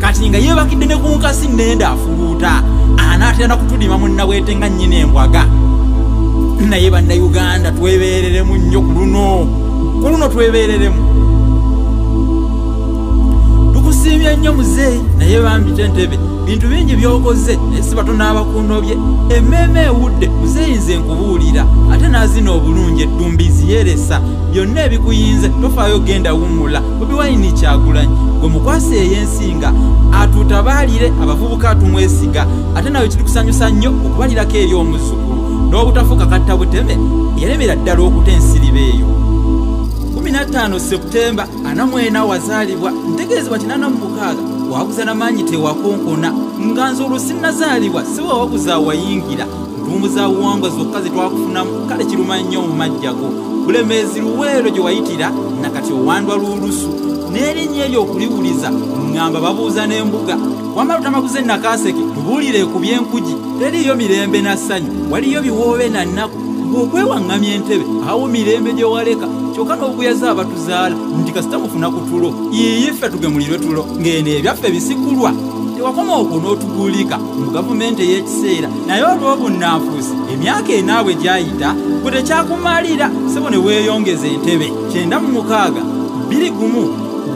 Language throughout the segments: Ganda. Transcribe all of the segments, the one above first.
kati nga yebakidde ne ku nkasi nenda afuluuta anaatera nakutulima munnabwete nga nnyina embwaga naye bannayuganda twebeereremu nnyo ku luno ku luno twebeereremu tukusiimye nnyo muzeeyi naye bambite ntebe bintu bingi byokoze naye siba tunaabakundobye emmeeme ewudde muzeeyi nze nkubuulira ate naazina obulungi eddumbizi yeresa byonna ebikuyinze tofaayo genda wummula bobi wayini kyagulanyi gwe mukwasa eyensinga atutabaalire abavubuka atumwesiga ate nawe kiri kusanyusa nnyo okubalirako eri omuzzukulu n'obutafuuka katta buteme yaremera ddala okuta ensiriba eyo 15 septemba ana mwena wazaalibwa ntegeezebwa kinana mu mukaaga waguza na maanyi tewakonkona nga nze olwo sinnazaalibwa siwe waguza wayingira tumbuza buwangwa zokka ze twakufunamu kale kiruma nnyo mu majjago bulemeezi luweero gye wayitira na kati owandwa lw'olusu n'erinnya eryo okuliwuliza ng'amba babuuza n'embuga wamala otamaguze nakaaseke tubuulire ku by'enkugi teriiyo mirembe na ssanyu waliyo biwoobe na nnaku ng'okwewaŋŋamya entebe awo mirembe gye waleka kyokka n'okuyaza abatuzaala nti kasita mufuna ku tulo yiiyife tugemulirwe tulo ng'eno ebyaffe bisikulwa tewakoma okwo n'otuguulika mu gavumenti ey'ekiseera naye olw'obunnanfuusi emyaka enaabwe gyayita gwe tekyakumalira sebo ne weeyongeza entebe kyenda mu mukaaga bbiri gumu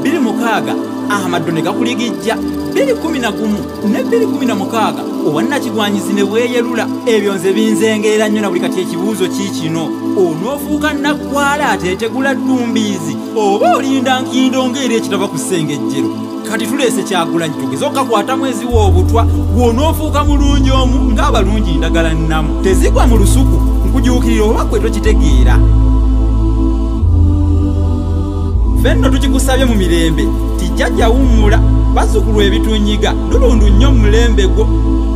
bbiri mukaaga amaddo ne gakuligijja bbiri kumi na gumu ne bbiri kumi na mukaaga owannakigwanyizi ne bweyerula ebyo nze binzengeera nnyo na buli kati ekibuuzo ki kino onoofuuka nnaggwala ateetegula ddumbiizi oba olinda nkindo ng'era ekitava ku ssengejjero kati tuleese kyagulanyi tugeze okakwata mwezi w'obutwa gwonoofuuka mulungi omu ng'abalungi ndagala nnamu tezigwa mu lusuku nkujuukirira oba kwe tokitegeera ffe nno tukikusabye mu mirembe tijjajja wummula bazukulu ebitunyiga lulundu nnyo mu mulembe gwo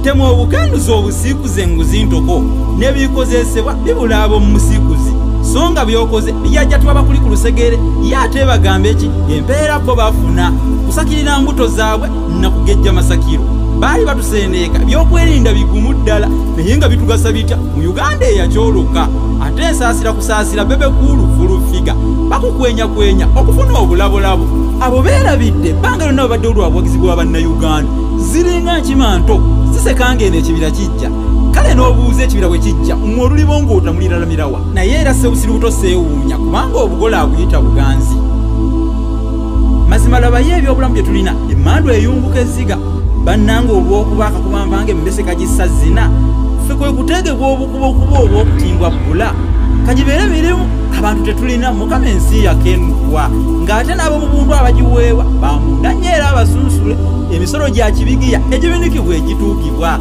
temu obukanduza obusiikuze nguzi ntoko n'ebikozesebwa bibula ab'omu musiikuzi so nga byokoze yajja tuba bakuli ku lusegere ye ate bagamba eki empeera bo bafuna kusakirira mbuto zaabwe nakugejja masakiro baali batusendeeka byokwerinda bigumu ddala naye nga bitugasa bitya mu uganda eyakyoloka ate ensaasira kusaasira bebe kuulu fulufiga bakukwenyakwenya okufuna obulabolabo abo beerabidde ebbanga lyonna babadde olwabuwagizi bwa bannayuganda ziringa nkima nto sisekanga eno ekibira kijja kale n'obuuza ekibira bwe kijja mwe olulibo ng'otamuliralamirawa naye era sebusiru buto seewuunya kubanga obugole aguyita buganzi mazima labayo ebyobulamu bye tulina emmandu eyunguka ezziga bannanga olw'okuba akakuba mpange emmese kagissa zina ffe kwe kuteegebwa obukuba okuba olw'okutimbwa bbula kagibeere birimu abantu tetulina mukama ensi yakenukwa ng'ate n'abo mu buntu abagiweebwa bamunda nnyo era abasunsule emisolo gya kibigiya egibinikibwa egituukibwa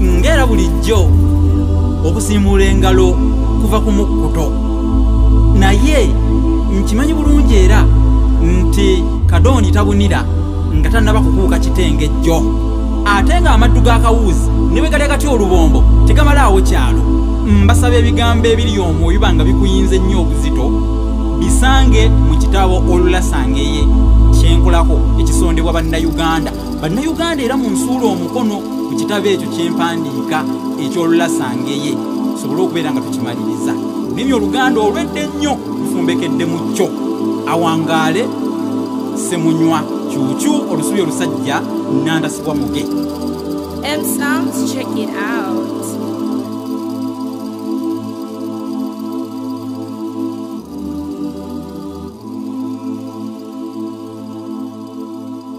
ng'era bulijjo okusiimuula engalo kuva ku mukkuto naye nkimanyi bulungi era nti kadooni tabunira nga tannaba kukuuka kitengejjo ate ng'amaddu g'akawuuzi ne bwe gali agati olubombo tegamalaawo kyalo mbasaba ebigambo ebiri omwo biba nga bikuyinze ennyo obuzito bisange mu kitabo olulasangeye kyenkolako ekisondebwa bannayuganda bannayuganda era munsuula omukono ku kitabo ekyo kyempandiika ekyolulasangeye tusobole okubeera nga tukimaliriza nimi oluganda olwedde ennyo lufumbekedde mu kyo awangaale semunywa kyukyu olusubi olusajja nandasibwa muge M sounds check it out.